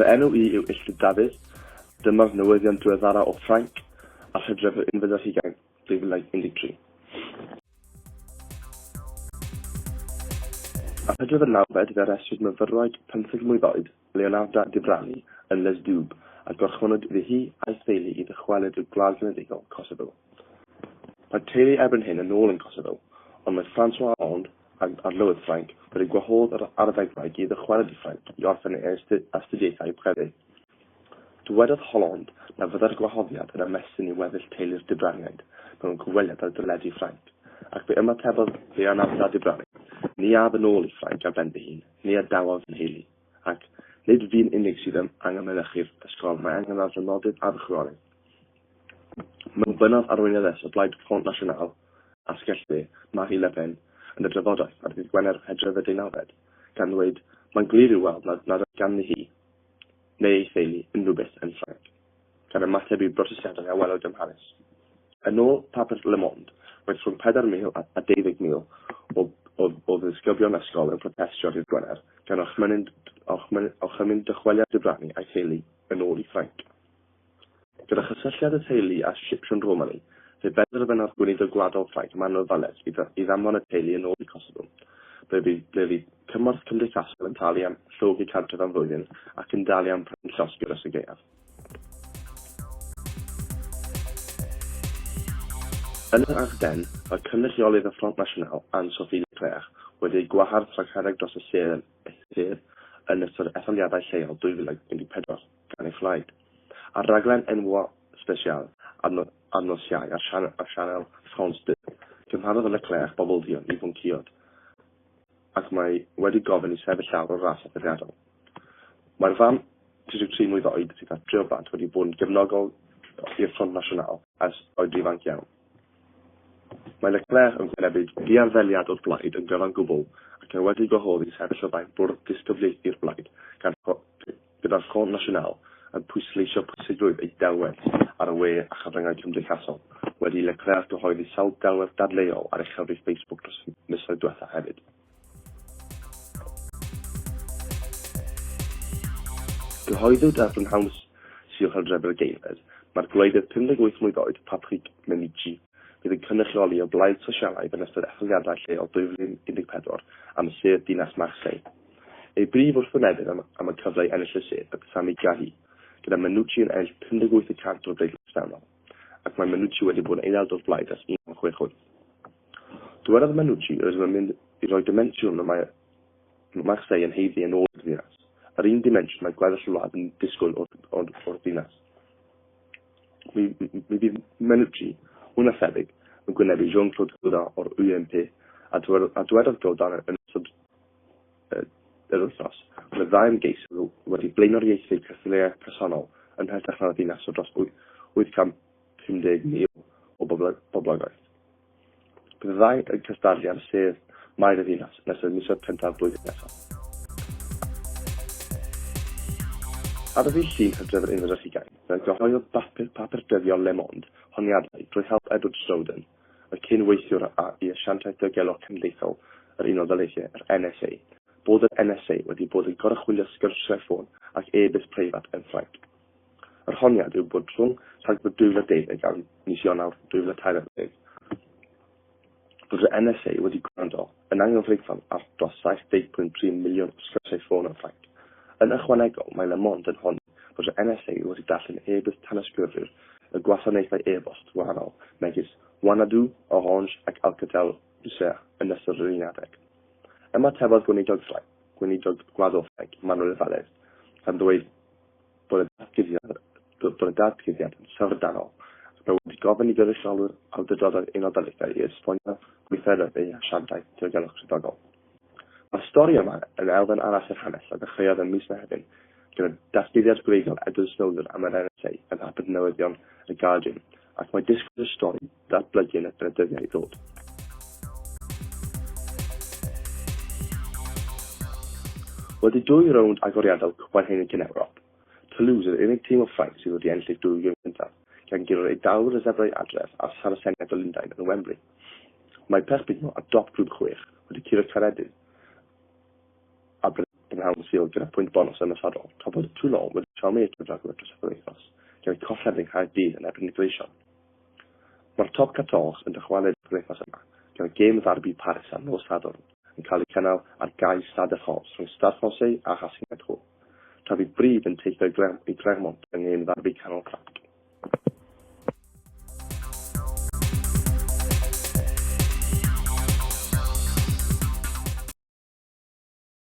Fy enw i yw Illtud Dafydd. Dyma'r newyddion diweddara o Ffrainc, a'r hydref yn fy hugain. 2013. Ar Hydref yr nawfed fe arestwyd myfyrwraig pymtheg mlwydd oed, Leonarda Dibrani, yn Lezdub, a gorchfynwyd iddi hi a'i theulu i ddychwelyd i'r Gwlad Genedlaethol, Kosovo. Mae'r teulu erbyn hyn yn ôl yn Kosovo, ond mae François Hollande, ag Arlywydd Ffrainc, wedi gwahodd yr arddegfraig i ddychwelyd i Ffrainc i orffen ei astudiaethau crefydd. Dywedodd Hollande na fyddai'r gwahoddiad yn ymestyn i weddill teulu'r Dubrariaid mewn cyfweliad ar deledu Ffrainc, ac fe ymatebodd Fe anaf da Dubrari, ni af yn ôl i Ffrainc ar ben fy hun, ni a dawaf fy nheulu, ac nid fi'n unig sydd yn angen mynychu'r ysgol, mae angen ar fy nodydd a fy chroyw. Mewn bennod arweinyddes o blaid Front National, asgell dde, Marie Le Pen, yn y drafodaeth ar ddydd Gwener Hydref y deunawfed, gan ddweud, Mae'n glir i'w weld nad nad oedd ganddi hi neu ei theulu unrhyw beth yn Ffrainc, gan ymateb i brotestiadau a welwyd ym Mharis. Yn ôl papur Le Monde, roedd rhwng 4,000 a 20,000 o o o ddisgyblion ysgol yn protestio ddydd Gwener, gan orchmynu'n orchmynu'n orchymyn dychweliad Debranni a'i theulu yn ôl i Ffrainc. Gyda chysylltiad y teulu â Sipsiwn Romani, fe benderfynodd Gweinidog Gwladol Ffrainc Manuel Vallet i i ddanfon y teulu yn ôl i Kosovo, ble bu ble bu cymorth cymdeithasol yn talu am llogi cartref am flwyddyn ac yn dalu am prynu llosgi dros y gaeaf. Yn yr Ardennes, mae cynrychiolydd y Front National, Anne-Sophie Leclerc, wedi ei gwahardd rhag rhedeg dros y sedd yn ystod etholiadau lleol 2014. gan ei phlaid, ar raglen enwau sbesial ar nos Iau ar sianel France 2. Cymharodd Leclerc bobl dduon i fwncïod ac mae wedi gofyn i sefyll lawr o'r ras adferiadol. Mae'r fam 33 mlwydd oed sydd â tri o blant wedi bod yn gefnogol i'r Front National ers oed ifanc iawn. Mae Leclerc yn wynebu diarddeliad o'r blaid yn gyfan gwbl ac mae wedi gwahodd i sefyll o flaen bwrdd disgyblaethu'r blaid gan gyda'r Front National yn pwysleisio pwysigrwydd eu delwedd ar y we a chyfryngau cymdeithasol, wedi i Leclerc gyhoeddi sawl delwedd dadleuol ar ei chyfrif Facebook dros y misoedd diwethaf hefyd. Cyhoeddwyd ar brynhawn Sul Hydref yr ageirfed, mae'r gwleidydd 58 mlwydd oed, Patrick Mennigi, fydd yn cynrychioli y Blaid Sosialaidd yn ystod etholiadau lleol 2014 am y sedd dinas Marseille. Ei brif wrthwynebydd am am y cyfle i ennill y sedd oedd Sami Gahi, gyda Menucci yn ennill 58 y cant o'r bleidlais bresennol, ac mae Menucci wedi bod yn aelod o'r blaid ers 1968. Dywedodd Menucci, Rydym yn mynd i roi dimensiwn y mae Marseille yn haeddu yn ôl i'r ddinas, yr un dimensiwn mae gweddill y wlad yn disgwyl o'r o'r o'r ddinas. Mi mi fydd Menucci, mwy na thebyg, yn gwynebu Jean-Claude Godin o'r UMP, a dywedodd Godin yn ystod yr wythnos, ond y ddau ymgeisydd wedi blaenoriaethu cystadleuaeth personol yn hytrach na'r ddinas o dros 850,000 o boblogaeth. Bydd y ddau yn cystadlu ar sedd Maer y Ddinas yn ystod misoedd cyntaf blwyddyn nesaf. Ar ddydd Llun Hydref yr unfed ar hugain, fe gyhoeddodd bapur dyddiol Le Monde honiadau drwy help Edward Snowden, y cyn-weithiwr a'i asiantaeth diogelwch cenedlaethol yr Unol Daleithiau, yr NSA, bod yr NSA wedi bod yn goruchwylio sgyrsiau ffôn ac e-byst preifat yn Ffrainc. Yr honiad yw bod rhwng Rhagfyr 2012 a mis Ionawr 2013 bod yr NSA wedi gwrando Yn anghyfreithlon, ar dros 75 miliwn o sgyrsiau ffôn yn Ffrainc. Yn ychwanegol, mae Le Monde yn honni bod y NSA wedi darllen e-byst tanysgrifwyr y gwasanaethau e-bost gwahanol, megis Wanadoo, Orange ac Alcatel Lucent, yn ystod yr un adeg. Ymatebodd Gweinidog Ffrainc, Gweinidog Gwaddol Ffrainc, Manuel Valls, gan ddweud bod y datguddiad bod y datguddiad yn syfrdanol ac mae wedi gofyn i gyfreithiolwyr awdurdodau'r Unol Daleithiau i esbonio gweithredoedd eu hasiantaeth diogelwch swyddogol. Mae'r stori yma yn elfen arall i'r hanes a ddechreuodd ym mis Mehefin gyda datguddiad gwreiddiol Edward Snowden am yr NSA ym mhapur newyddion y Guardian ac mae disgwyl i'r stori datblygu yn ystod y dyddiau i ddod. Wedi dwy rownd agoriadol Cwpan Heineken Ewrop, Toulouse yw'r unig tîm o Ffrainc sydd wedi ennill eu dwy gêm cyntaf, gan guro'r Eidalwyr y Zebrau Adref a'r Saraseniaid o Lundain yn Wembley. Mae Perpignan ar dop grŵp chwech, wedi curo Caeredin a Brynhawn Sul gyda phwynt bonws ymosodol, tra bod Toulon wedi troi eu cyfragwr dros y penwythnos, gan eu colled yng Nghaerdydd yn erbyn y Gleision. Mae'r Top 14 yn dychwelyd yr wythnos yma, gyda gêm ddarbi Paris ar nos Sadwrn yn cael ei cynnal ar gae Stade de France rhwng Stade Francais a Racing Hent Hall, tra bydd Brive yn teithio i Clermont yng ngêm ddarbi canol crafft.